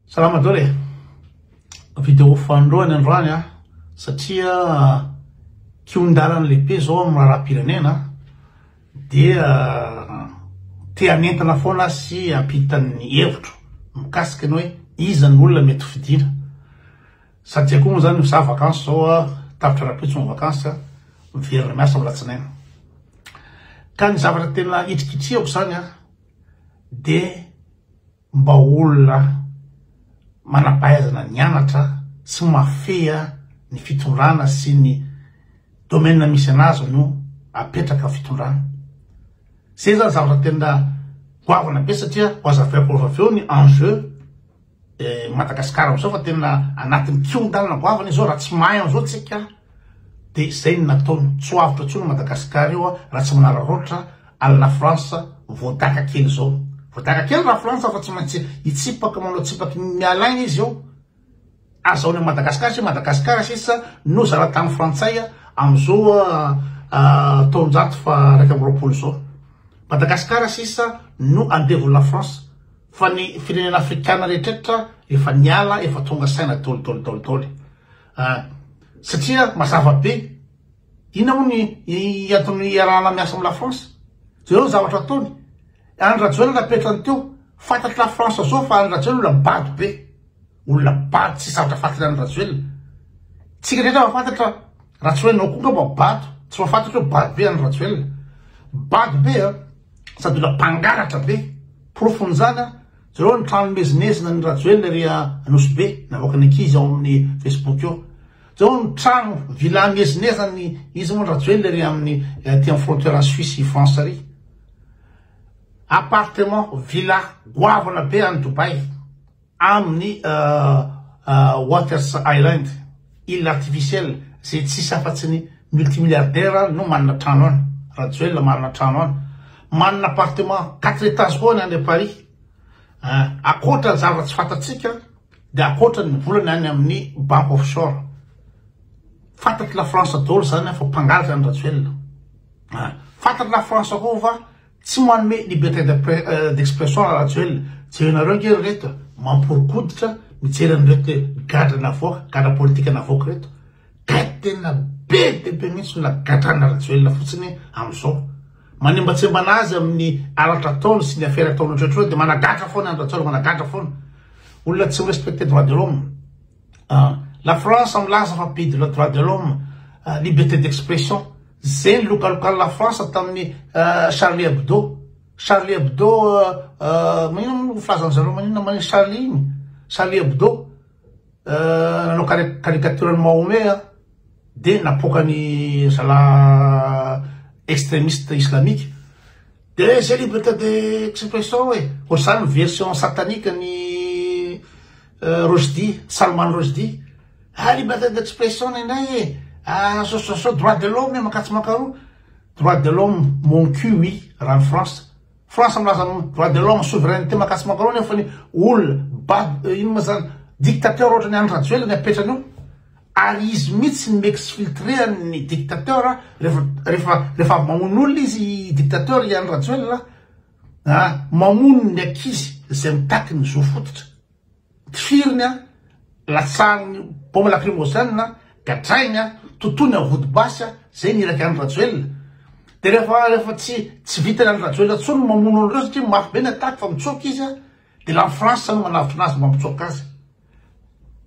Salama Doro e! Video fanoloany androany an, satria kihon-dalana lehibe zao amin'ny raharaham-pirenena dia te hanentana foana sy hampita ny hevitro mikasika ny hoe iza ny olona mety fidina. Satria koa moa zany za vacances zao a, tapitra rapitso ny vacances, miverina miasa amin'ny latsinaina. Ka ny zavatra tena hitrikitrihako zany a dia mba olona manampahaizana nianatra sy mahafehy ny fitondrana sy ny domaine misy anazy no apetraka fitondrana. Zay zany zavatra tena goavana be satria ho azavaiko avy eo ny enjeu eh, Madagascar amizao fa tena anatin'ny kiondalana goavana izao raha tsy mahay an'izao tsika de zay no nataony, tsy ho avotra tsony Madagascar io raha tsy manararaotra any la France voadaka kely zao, voadaka kely la France fa tsy maintsy hitsipaka manao tsipaky ny miala agny izy eo, azahoany any Madagascar satria Madagascar sisa no zara tany frantsay amizao taonjato faha raika amby roapolo zao, Madagascar sisa no andevony la France fa ny firenena afrikana rehetrretra efa niala efa tonga saina daoly daoly daoly daoly. Ah, satria mazava be. Inona moa ny hianton'ny hiarahana miasa amin'ny la France? Jereo ny zavatra ataony. Andry Rajoelina napetrany teo. Fantatry la France zao fa Andry Rajoelina olona bado be. Olona bado tsy sarotra fatina Andry Rajoelina. Tsika rehetra mahafantatra raha tsy hoe nao koa ngamba bado. Tsy mahafantatra hoe bado be Andry Rajoelina. Bado be a. Sady olona mpangalatra be. Porofon'izany a. Jereo ny trano mezinezina an'i Rajoelina ery Anosibe navoakan'ny ankizy ao amin'ny Facebook eo. Jereo ny trano villa miezinezina an'i izy moa Rajoelina ery amin'ny aty amin'ny frontière an'i Suisse i France ary. Appartement villa goavana be any Dubai amin'ny Waters Island. Ila artificiel zay tsisy afatsy ny multimilliardaire no manana trano any. Rajoelina manana trano any. Manana appartement quatre etages koa any Andry Paris. Eh, akoatra ny zavatra tsy fantatsika dia akoatra ny volany any amin'ny banque offshore. Fantatry la France daholo zany fa mpangalatra any Rajoelina. Eh, fantatry la France koa fa Tsy manome liberté d'expression ra Rajoelina, jerenareo ange ry reto mamporokoditra mijery an'ireto gadra navoaka, gadra politika navoaka ireto, gay tena be dia be mintsy na gadrana Rajoelina fotsiny amizao, manembatsembana azy amin'ny halatra ataony sy ny afera ataony ohatrohatr'ireo dia managadra foana ny Rajoelina, managadra foana, olona tsy mi respecter droit de l'homme. Ah, la France milaza fa be de la droit de l'homme, ah, liberté d'expression. Zay ny lokalokan'i la France tamin'ny ah, Charlie Hebdo. Charlie Hebdo, ah, maninona moa no filazan'ny zareo maninona maninona Charlie iny? Charlie Hebdo, ah, nanao caricature an'i Mahomet, ah, dia napoaka ny zala extrémiste islamique. Des célibataires de expression e! Hoatr'izany ny version satanique ny Roshdi, Salman Roshdi. Ah liberté d'expression nenay e! Ah association droit de l'homme e, mankatso mankaroa. Droit de l'homme mon cul oui, raha ny France. France milaza ny droit de l'homme, souveraineté mankatso mankaroa nefa ny olona, bab, inona moa izany, dictateur ohatran'i Andry Rajoelina ny apetrany eo. Ary izy mihitsy no m'exfiltrean ny dictateur refa refa refa mamono olona izy dictateur iany rajoelina ah mamono ny ankizy zay mitaky ny zo fototra tifiriny ah latsahany bombe lacrymogène ah gadrainy ah totoiny am vody basy ah zay ny iraky any rajoelina de refa refa tsy tsy vitany any rajoelina tsony ny mamono anreo satria mafy be ny attaque fa mitsoaka izy ah de la france no manavotra anazy mba mitsoaka azy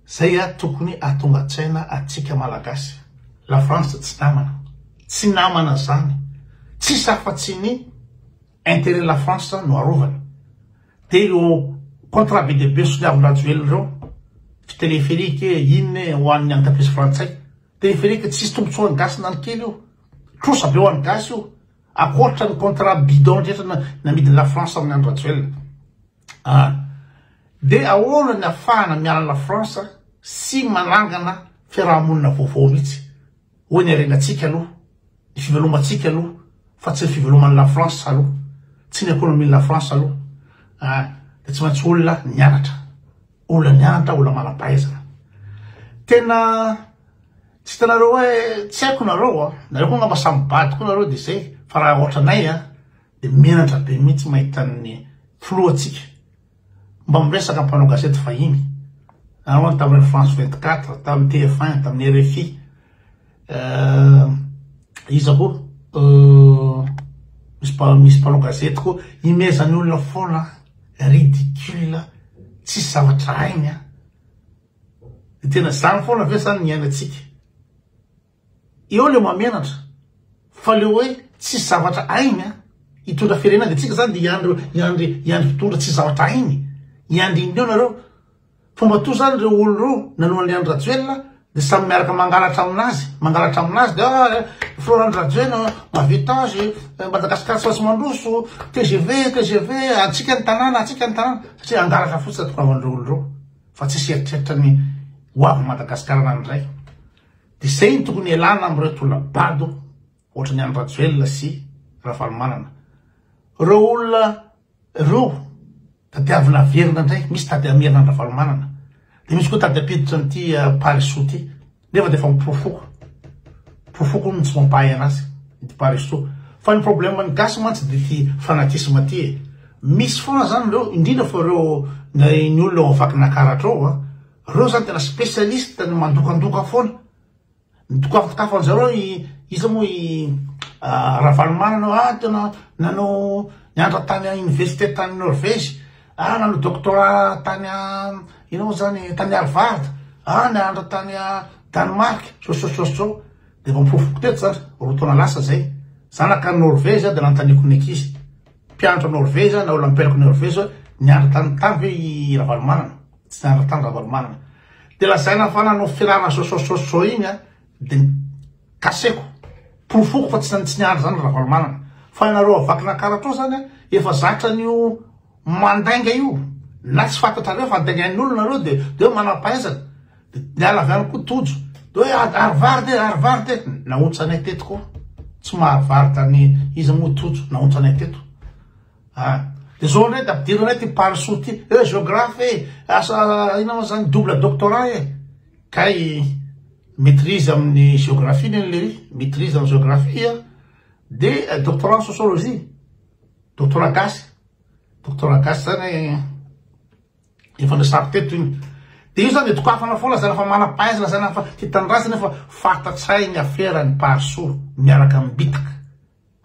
Zay a tokony atongatsaina atsika malagasy. La France tsy namana. Tsy namana zany. Tsisy afa tsy ny interet la France no arovany. De ireo contrat be dia be soniavin-drajoelina ireo, fi telepherique e, inona e, ho an'ny entreprise frantsay. Telepherique tsisy tombotsoan'ny gasy na ny kely io. Trosa be ho an'ny gasy io. Akoatra ny contrat bidon rehetra namidin'i la France tamin'ny andro rajoelina. Ah! Dia ahoana ny afahana miala la France sy manangana fiaraha-monina vaovao mihitsy? Hoy ny harenantsika aloha, ny fivelomantsika aloha fa tsy ny fiveloman'i la France aloha, tsy ny ekonomin'i la France aloha. Ah! Dia tsy maintsy olona nianatra, olona nianatra, olona manam-pahaizana. Tena tsy hitanareo hoe tsy haiko nareo an! Nareo koa angamba samy bado koa nareo dia izay fa raha ohatranay an! Dia menatra be mihitsy mahita ny filohantsika mba miresaka mpanao gazety vahiny. Ary hono tamin'ny France 24, tamin'ny TF1, tamin'ny RFI, euh, iza koa, euh, misy mpanao gazety koa, imezan'ny olona foana, ridicule, tsisy zavatra hainy. Dia tena izany foana ve izany ny iainantsika? Eo leo mamenatra fa leo hoe tsisy zavatra hainy an! Hitondra firenena de tsika zany de hiandry hiandry hiandry mpitondra tsisy zavatra hainy hiandry inona eo nareo fa mba toa zany reo olo reo nanoa anle Andry Rajoelina de samy miaraka mangalatra aminazy mangalatra aminazy de ah Flora Andry Rajoelina mahavita azy Madagascar tsy maintsy mandroso tgv tgv antsika ny tanàna antsika ny tanàna satria angalatra fotsiny ny tonga anreo olo reo fa tsisy eritreritra ny ho avy Madagascar nandray Dia zay no tokony hialana amin'ireo tolona bado ohatran'i Andry Rajoelina sy Ravalomanana. Ireo olona ireo tadiavina averina indray, misy tady hamerina an-dRavalomanana, dia misy koa tady hampiditra an'ity Parisoa ity, nefa dia efa ho porofoko, porofoko hono ny tsy mampahay anazy ity Parisoa. Fa ny probleman'ny gasy mantsy dia ity fanatisme ity e! Misy foana izany ireo, indrindra fa ireo ny olona ao Vakinankaratra ao an! Reo zany tena specialiste ny mandokandoka foana, ny dokafakitafo anjareo i iza moa i Ravalomanana ah tena nanao nianatra tany à université tany Norvège ah nanao doctorat tany à inona moa zany tany Harvard ah nianatra tany à Danemark zao sy zao sy zao sy zao de efa mifofompofo teto zany roa taona lasa zay, zanaka any Norvège ah de nanontaniako ny ankizy. Mpianatra Norvège na Olympiaco Norvège nianatra tany tany ve i Ravalomanana? Tsy nianatra tany Ravalomanana. Dia lazaina fa nanao firahana sosososo iny a, dia kaseko, porofoko fa tsy tsy nianatra zany Ravalomanana. Fa ianareo à Vakinakaratra ao zany a, efa zatra an'io mandainga io, na tsy fantatrareo fa andaingain'olona nareo dia dia hoe manam-pahaizana. Niala avy any koa Tojo. Dia hoe ah, ary vary dia ary vary dia nahontsa anay teto koa. Tsy mahary vary tany iza moa Tojo, nahontsa anay teto. Ah, dia izao indray dia ampidirinay ity Parisoa ity. Eh, géographe eh, asa inona moa izany double doctorat eh. Kay maîtrise amin'ny géographie ny an'ilay maîtrise amin'ny géographie ah. dia doctorat en sociologie. Doctorat gasy. Doctorat gasy izany eh. Efa resako teto iny. Dia io izany dokafana foana izany fa manam-pahaizana izany fa tia tanindrazana io fa fantatsay ny afera ny Parisoa miaraka amin'ny bitaka.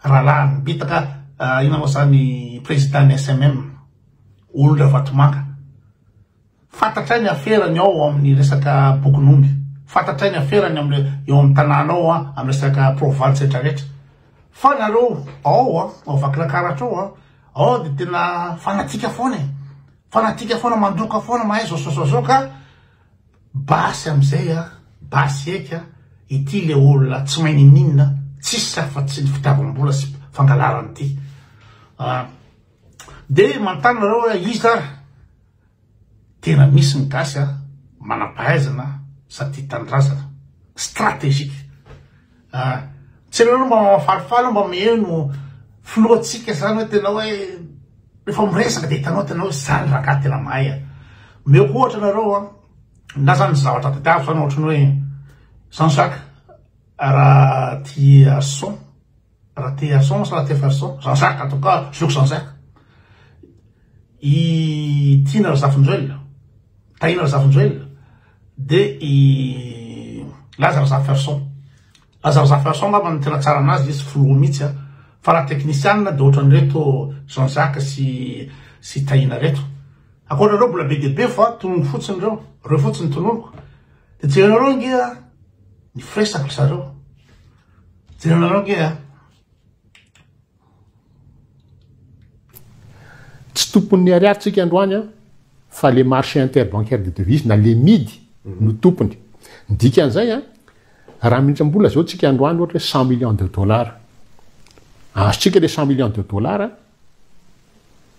Rahalahy ny bitaka inona moa izany président ny SMM. Olon-dRavatomanga. Fantatray ny aferany ao amin'ny resaka bokin'omby. Fantatray ny aferany amin'ny eo amin'ny tanàna ao amin'ny resaka province rehetra rehetra. Fa nareo ao ao Vakinankaratra ao Ao de tena fanatika foana e, fanatika foana, mandoka foana, mahay zozozozoka, basy amizay a, basy eky a, ity le olona tsy mahay ninininona, tsisy afa tsy ny fitiavam-bola sy fangalarana ity, de manontany nareo hoe iza ary? Tena misy ny gasy a, manampahaizana sady tia tanindrazana. Stratégique. A, tsy ianao aloha mba mahafalifaly mba miheno filohantsika zany hoe tena hoe rehefa miresaka dia hitanao tena hoe zany rangahy tena mahay a. Omeko ohatra nareo a, na zany zavatra tadiaviko zany ohatran'ny hoe Jean Jacques raha tia son Ratearson sa Rateferson? Jean Jacques en tout cas je veux que Jean Jacques. I Tiana Razafinjoelina, Tahina Razafinjoelina dia i Laza Razaferson. Laza Razaferson angamba no tena tsara anazy izy filoha mihitsy a. Fa raha teknisianina dia ohatran'ireto Jean Jacques sy sy Tahina ireto. Ankoatran'ireo mbola be dia be fa tononiko fotsiny ireo, ireo fotsiny tononiko. Dia jerenareo ange ny firesaka ry zareo. Tsy tompon'ny ariary tsika androany an, fa le marché interbancaire de devises na le mid no tompony. Ny dikan'izay an, raha mihintsy mbola zao tsika androany ohatra hoe cent millions de dollars, azontsika le cent millions de dollars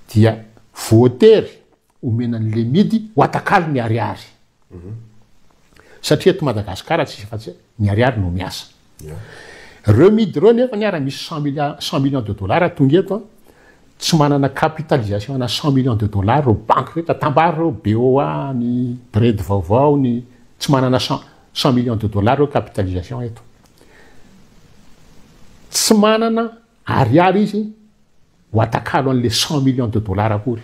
dia voatery Omena ny lemidy ho atakalo ny ariary. Satria eto Madagasikara tsy misy afa-tsy ny ariary no miasa. Ireo midy ireo nefa ny ary misy cent milliards, cent millions de dollars tonga eto, tsy manana capitalisation ana cent millions de dollars ireo banky rehetra, tambaro ireo BOA, ny BRED vaovao, ny tsy manana cent, cent millions de dollars ireo capitalisation eto. Tsy manana ariary izy. Ho atakalo an'le cent millions de dollars akory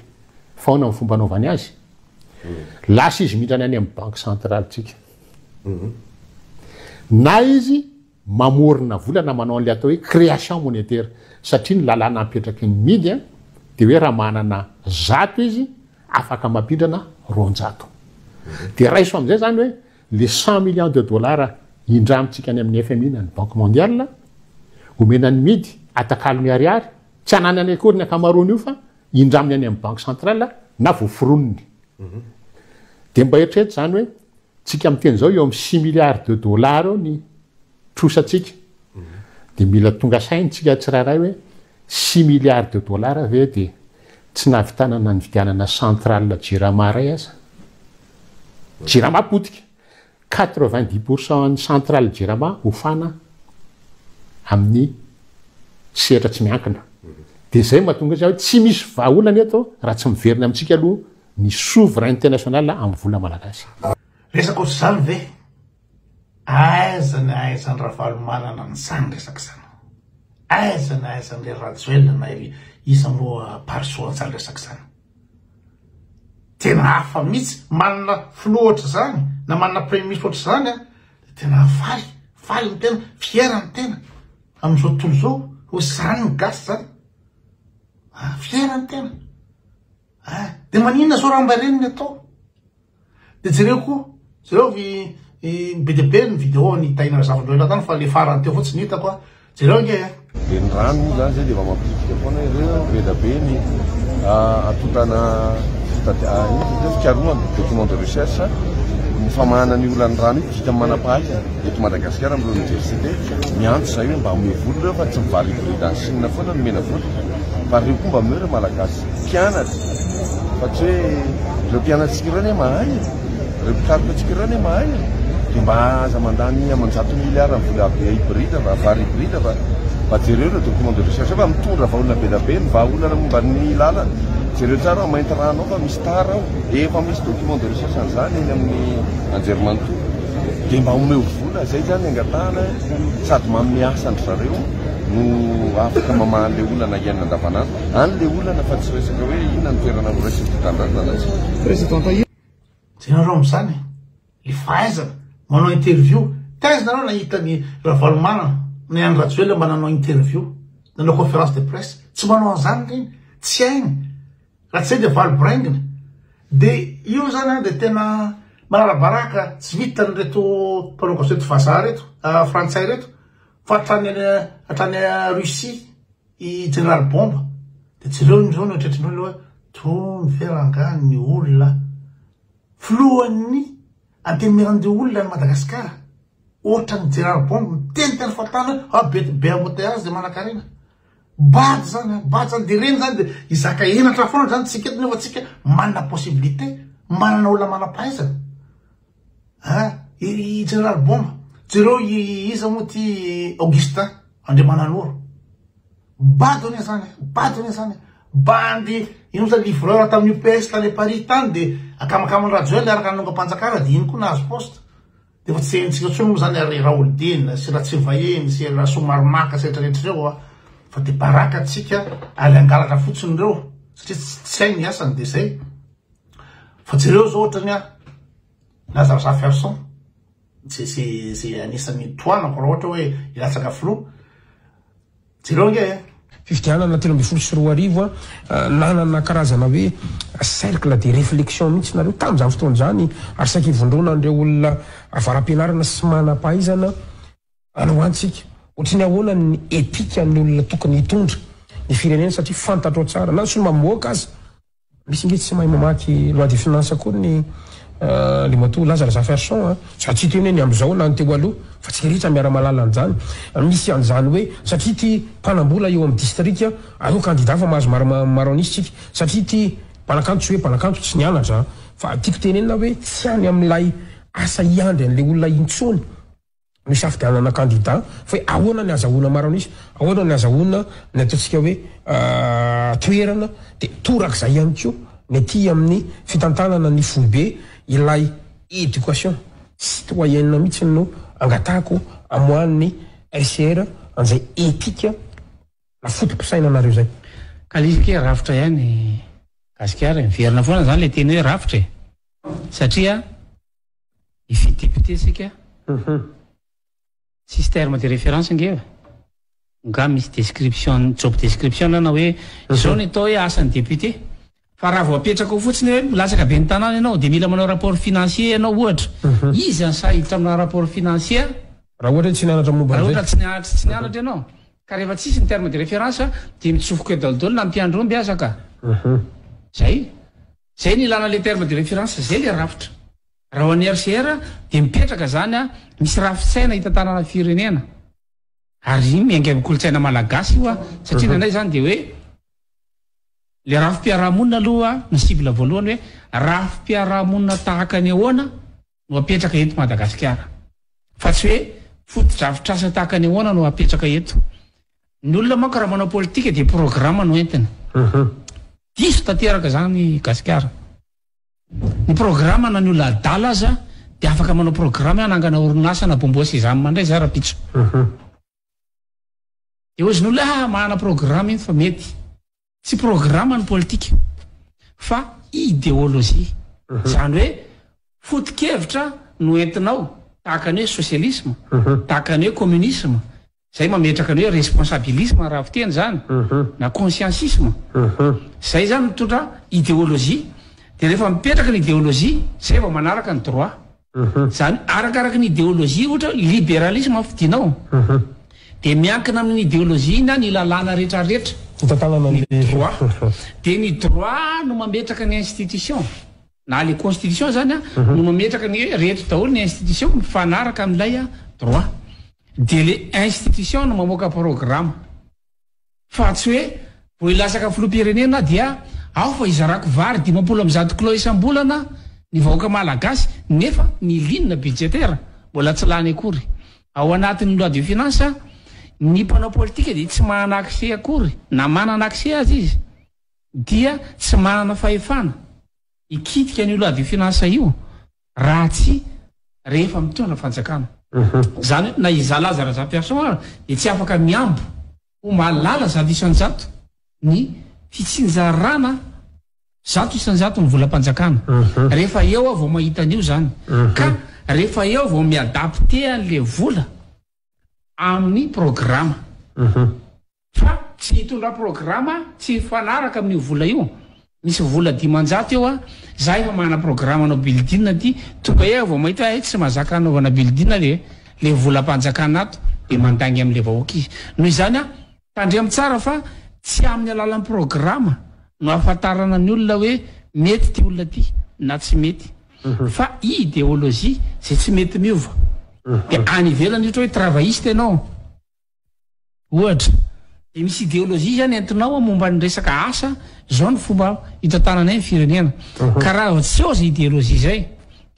fa ahoana ny fomba anaovany azy? Lasa izy mindrana any amin'ny banque centrale tsika. Na izy mamorona vola na manao an'le atao hoe création monétaire satria ny lalàna apetraky ny mid a de hoe raha manana zato izy afaka mampindrana roanjato. De raiso amin'izay zany hoe Le cent millions de dollars indramintsika any amin'ny fmi na ny banque mondiale, omena ny midy, atakalo miharihary, tsy ananany akory ny ankamaroan'io fa indraminy any amin'ny banque centrale na voaforoniny. Dia mba eritrereto izany hoe, tsika miteny izao eo amin'ny six milliards de dollars eo ny. trosantsika dia mila tonga saina tsika tsirairay hoe six milliards de dollars ve dia tsy nahavitana na nividianana centrale jirama iray aza? jirama potika quatre vingt dix pour cent ny centrale jirama hofana amin'ny sehatra tsy miankina dia zay mahatonga izy hoe tsy misy vahaolana eto raha tsy miverina amintsika aloha ny souveraineté nationale amin'ny vola malagasy. Resaka ohatr'izany ve? Aiza ny ahaizan'i Ravalomanana nitsang resaka izany? Aiza ny ahaizan'ilay Rajoelina na ry iza moa Parisot antsany resaka izany? Tena hafa mihitsy, manana filoha ohatr'izany na manana premier ministre ohatr'izany an, dia tena faly, faly ny tena, fier ny tena amin'izao tontolo izao, ho izany ny gasy izany. Ah, fier ny tena. Ah, dia maninona izao raha mba ireny ny atao? De jereo koa, jereo vy be dia be ny vidéo an'i Tahiana Razafindraoila tany fa le farany teo fotsiny hitako a, jereo ange a. Dia ny rano moa izany izay dia efa mampirisika foana ireo be dia be ny atotana fikarohana, document de recherche, ny famahana ny olan'ny rano io, vita amin'ny manam-pahaizana eto Madagasikara amin'ireo oniversite, miantso izay hoe mba omeo vola ireo fa tsy mivarivorida any Chine foana no omena vola fa ireo koa mba omeo ireo Malagasy. mpianatra fa tsy hoe ireo mpianatsika ireo anie mahay e. ireo mpikaroka antsika ireo anie mahay e. dia mba aza mandany aman-jato miliara ny vola be hybride fa vary hybride fa mba jereo ireo document de recherche fa mitondra vaholana be dia be ny vahaolana momba ny lala jereo tsara ao mainty rano ao fa misy tara ao efa misy document de recherche an'izany eny amin'ny anjerimanontolo dia mba omeo vola izay zany angatahana sady manome asa an-dry zareo no afaka mamaha le olana iainana andavanandro Any le olana fa tsy resaka hoe inona ny toerana noraisin'ny mpitandra ny lalatsika. Tena rong izany e! le fahaizana manao interview, taiza nareo nahita ny Ravalomanana na i Andry Rajoelina mba nanao interview, nanao conférence de presse, tsy manao an'izany ireny, tsy hainy, raha tsy zay dia valo biraingina, dia io izany an dia tena manarabaraka tsy vitan'ireto mpanao gazety vazaha ireto, frantsay ireto, fa hatrany hatrany Russie. I Jeneraly Bomba dia jereo indreo ny ohatretriny hoe aloha toa mifera angaha ny olona filohan'ny antenimieran'ireo olona any Madagasikara ohatran'ny Jeneraly Bomba miteniteny fokontany hoe ah be be embouteillage dia manankarena bado izany an bado izany dia ireny izany dia hizaka henatra foana izany tsika eto nefa tsika manana possibilité manana olona manam-pahaizana Hein? Ery Jeneraly Bomba? Jereo iza moa ty Augustin Andriamananoro? Bado anie zany, bado anie zany. Bandy ino zany livreur tamin'ny UPS tany Paris tany de akamakama Rajoel araka ny nongam-panjakana de iny koa nahazo poste. De efa tsy henontsika intsony moa zany ary Raholdina sy Ratsirivahiny sy Rasoamaromaka sy retraretra ireo a. Fa de baraka antsika ary hangalatra fotsiny ireo satria tsy hainy ny asany de zay. Fa jereo zao otrany a na zaza ferson ze ze ze anisany tohanako ra ohatra oe ilatsaka filoha jereo ange a. Fifidianana telo ambin'ny folo sy roa arivo a, nanana karazana hoe cercle de reflexion mihitsy nareo tamin'izany fotoana izany ary saiky ivondrona an'ireo olona avara-pianarana sy manam-pahaizana androantsika ohatry ny ahoana ny ethique an'ny olona tokony hitondra ny firenena satria fantatrao tsara na ny solomamoaka aza Misy nge tsy mahay mamaky loi de finance koa ny Andriamatoa Lazar Zaferson a! Za tsy hiteny hoe ny amzao na ny teo aloha fa tsy rehetra miara mahalala anzany. Misy anzany hoe satria ty mpanambola eo am distrika aleo kandida fa mahazo maro anisa tsika, satria ty mpanakanto tsy hoe mpanakanto tsy nianatra an! Fa tiako tenenina hoe tsy any amilay asa hiandry anle olona intsony. nisafidianana kandida fa hoe ahoana ny azahoana maro an'isa, ahoana ny azahoana ny ataontsika hoe toerana, dia torak'izay ihany koa ny aty amin'ny fitantanana ny foibe ilay éducation citoyenne mihitsy no angatahako amoahan'ny RCR an'izay éthique na foto-pisainanareo izay. Ka le izy ke rafitra ihany gasikara e, miverina foana zany le teny hoe rafitra e, satria. Izy député sika tsisy terme de référence ange e! Nga misy description job description na hoe izao ny atao hoe asan'ny député? Fa raha vao apetraka ao fotsiny hoe milatsaka ben'ny tanàna ianao dia mila manao rapport financier ianao ohatra, iza ny sahy hiditra aminà rapport financier? Raha ohatra hoe tsy nianatra momba an'izay? Raha ohatra tsy nianatra tsy nianatra ianao? Ka rehefa tsisy ny terme de référence dia mitsofoka eo daholo daholo na mpiandry omby aza ka! Zay! Zay no ilana le terme de reference zay le rafitra. Raha ho an'i RCR dia mipetraka zany a, misy rafitsaina hitantanana firenena. Ary iny miainga amin'ny kolontsaina malagasy io a, satria ny anay zany dia hoe le rafi-piarahamonina aloha no cible voalohany hoe rafi-piarahamonina tahaka ny ahoana? no apetraka eto Madagasikara. Fa tsy hoe fotodrafitrasa tahaka ny ahoana no apetraka eto. Ny olona manko raha manao politika dia programa no entiny. Diso tanteraka izany Gasikara. Ny programa na ny olona adala aza dia afaka manao programa hoe hanangana orinasa na bômbôsy izany mandray izay rahampitso. Dia hoy izy ny olona ah mahana programa iny fa mety. Tsy programa ny politika fa ideolojia. Izany hoe foto-kevitra no entinao tahaka ny hoe sosialisma, tahaka ny hoe kominisma, izay mametraka ny hoe responsabilisma raha fiteny izany, na konsiansisma. Izay izany mitondra ideolojia. Dia rehefa mipetraka ny ideolojia, izay vao manaraka ny droit. Izany arakaraka ny ideolojia, ohatra hoe liberalisme no fidinao, dia miankina amin'ny ideolojia na ny lalàna rehetrarehetra, ny droit, dia ny droit no mametraka ny institution, na le constitution izany no mametraka ny hoe reto daholo ny institution mifanaraka amin'ilay droit, dia le institution no mamoaka programa. fa tsy hoe vao hilatsaka filoham-pirenena aho dia ao fa hizarako vary dimampolo amby zato kilao isam-bolana ny vahoaka malagasy nefa ny ligne budgétaire mbola tsy lany akory ao anatin'ny loi de finances, ny mpanao politika dia tsy manana accès akory na manana accès aza izy dia tsy manana fahefana hikitika an'io loi de finances io. raha tsy rehefa mitondra fanjakana. Izany hoe na izaho Laza Razafiarison ary dia tsy afaka mihambo ho malala zato isan-jato ny fitsinjarana zato isan-jato ny volam-panjakana. Rehefa eo aho vao mahita an'io izany. Ka rehefa eo aho vao mi-adapter an'ilay vola amin'ny programa. Fa tsy hitondra programa tsy mifanaraka amin'io vola io, misy vola dimanjato eo a, za efa manana programa hanao building aty, tonga eo aho vao mahita hoe hay tsy mahazaka hanaovana building ve le volam-panjakana ato, de mandainga amin'le vahoaka izy, noho izany a tandremo tsara fa tsy amin'ny alalan'ny programa no ahafantarana ny olona hoe mety ity olona ity na tsy mety fa ideologie zay tsy mety miova de any ivelany ohatra hoe travailliste ianao, Ohatra, dia misy ideolojia izany entinao a momba ny resaka asa, izao no fomba hitantananay ny firenena. Ka raha tsy eo izay ideolojia izay,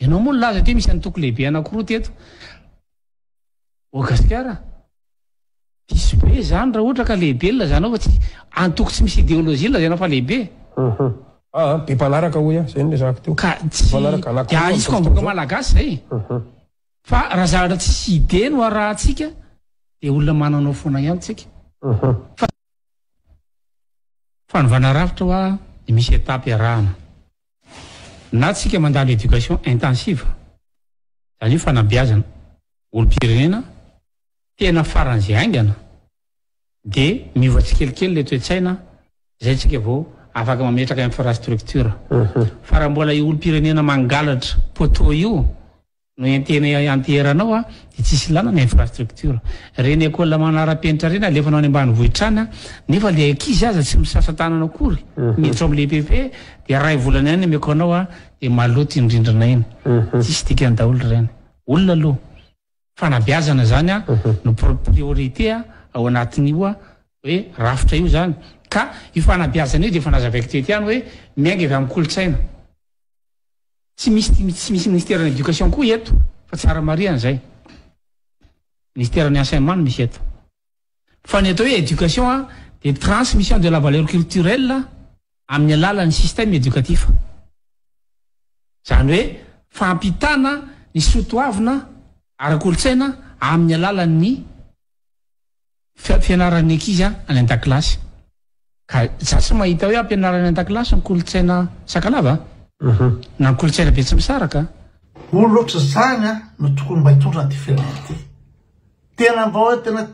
ianao moa nilaza teo misy antoko lehibe anankiroa teto ao Gasikara, diso be izany raha ohatra ka lehibe ny ilazanao fa tsy, antoko tsy misy ideolojia no lazaina fa lehibe e. Be mpanaraka hoy aho, izay no nirahako teo. Ka tsy, dia ahitsiko amin'ny vahoaka malagasy izay e. Fa raha zavatra tsisy idée no arahantsika dia olona mananao foana ihany tsika fa fanovana rafitra hoa dia misy étape iarahana na tsika mandalo éducation intensive izany hoe fanabeazana olom-pirenena tena faran'izay haingana dia miova tsikelikely ilay toe-tsaina izay tsika vao afaka mametraka infrastructure fa raha mbola io olom-pirenena mangalatra poteau io no entena ianteherana ao dia tsy hisy lalana, infrastructure. Ireny école manarapenitra ireny alefa any ambanivohitra any an, nefa ilay ankizy aza tsy misasa tanana akory, miditra ao amin'ilay PP dia iray volana ihany ny ameko anao an, dia maloto iny rindrina iny. Tsisy dikany daholo ireny. Olona aloha, fanabeazana izany an no priorité ao anatin'io an hoe rafitra io izany. Ka io fanabeazana io dia efa nazavaiko teto ihany hoe miainga avy amin'ny kolontsaina. Tsy misy tsy misy ministeran'ny éducation koa eto fa tsara marihana zay. Ministeran'ny enseignement no misy eto. Fa ny atao hoe éducation a dia transmission de la valeur culturelle amin'ny alalan'ny système éducatif. Zany hoe fampitana ny soa toavina ara-kolontsaina amin'ny alalan'ny fianaran'ny ankizy any an-dakilasy ka za tsy mahita hoe ampianarana any an-dakilasy ny kolontsaina Sakalava na ny kolontsaina Betsimisaraka. Olona ohatr'izany no tokony mba hitondra an'ity firenena ity. Tena mba hoe tena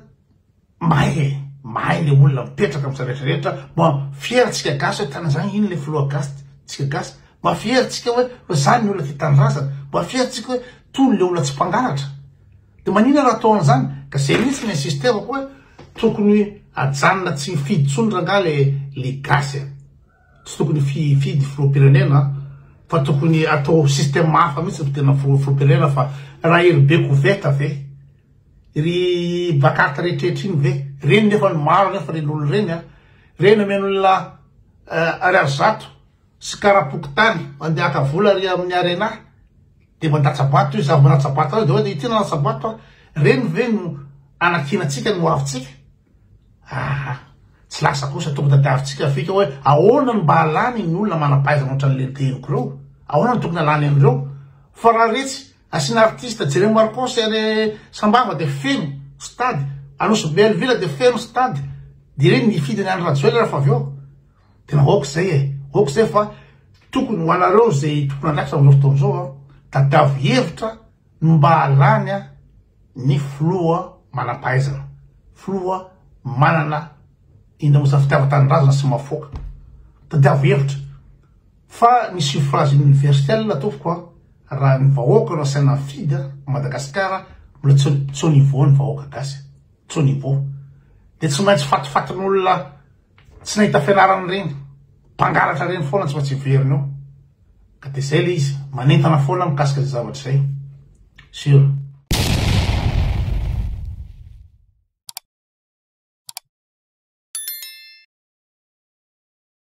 mahay e, mahay ilay olona mipetraka amin'izany rehetra rehetra, mba fier antsika gasy hoe tena izany, iny ilay filoha gasy tsika gasy, mba fier antsika hoe izany ny olona tia tanindrazana, mba fier antsika hoe tony ilay olona tsy mpangalatra. De manina raha atao anzany ka zay mihitsy ny insisterako hoe tokony ajanona tsy hifidy tsony rangah le le gasy a tsy tokony fifidy filohampirenena a fa tokony atao système hafa mihitsy ny fidirana filohampirenena fa raha ery be koveta ve ry bakata rehetrrehetra iny ve reny nefa ny maro nefa reny olona reny a reny omeny olona ariary zato sy karapokotany mandehaka vola ry amin'ny arena Dia mandatsa-bato izy, avy manatsa-bato azy dia hoe, ity nanatsa-bato aho, ireny ve no anakianantsika ny hoavintsika? Aa! tsy lasa kosa, tokony tadiavintsika ny fika hoe ahoana no mba halany ny olona manam-pahaizana ohatran'ny lentehiko ireo? Ahoana no tokony halany an'ireo? Fa raha retsy, asiana artiste Jeremy Marcos any Sambava dia feno stade, Anosibe Alvila dia feno stade, dia ireny nifidy an'i Andry Rajoelina rehefa avy eo. Tena ok zay e, ok zay fa tokony ho anareo zay tompon'andraikitra amin'izao fotoana izao an, tadiavo hevitra ny mba halany an ny filoha manam-pahaizana, filoha manana indrindra moa izany fitiavan-tanindrazana sy mahafoaka. Tadiavo hevitra fa ny suffrage universel tompoko an, raha ny vahoaka no asaina mifidy an, Madagasikara mbola tsy tsy au niveau ny vahoaka gasy, tsy au niveau. Dia tsy maintsy fatifatin'olona Tsy nahita fianarana ireny, mpangalatra ireny foana tsy maintsy heverina eo. Ka dia izay ilay izy, manentana foana aho mikasika izay zavatra izay. Sur.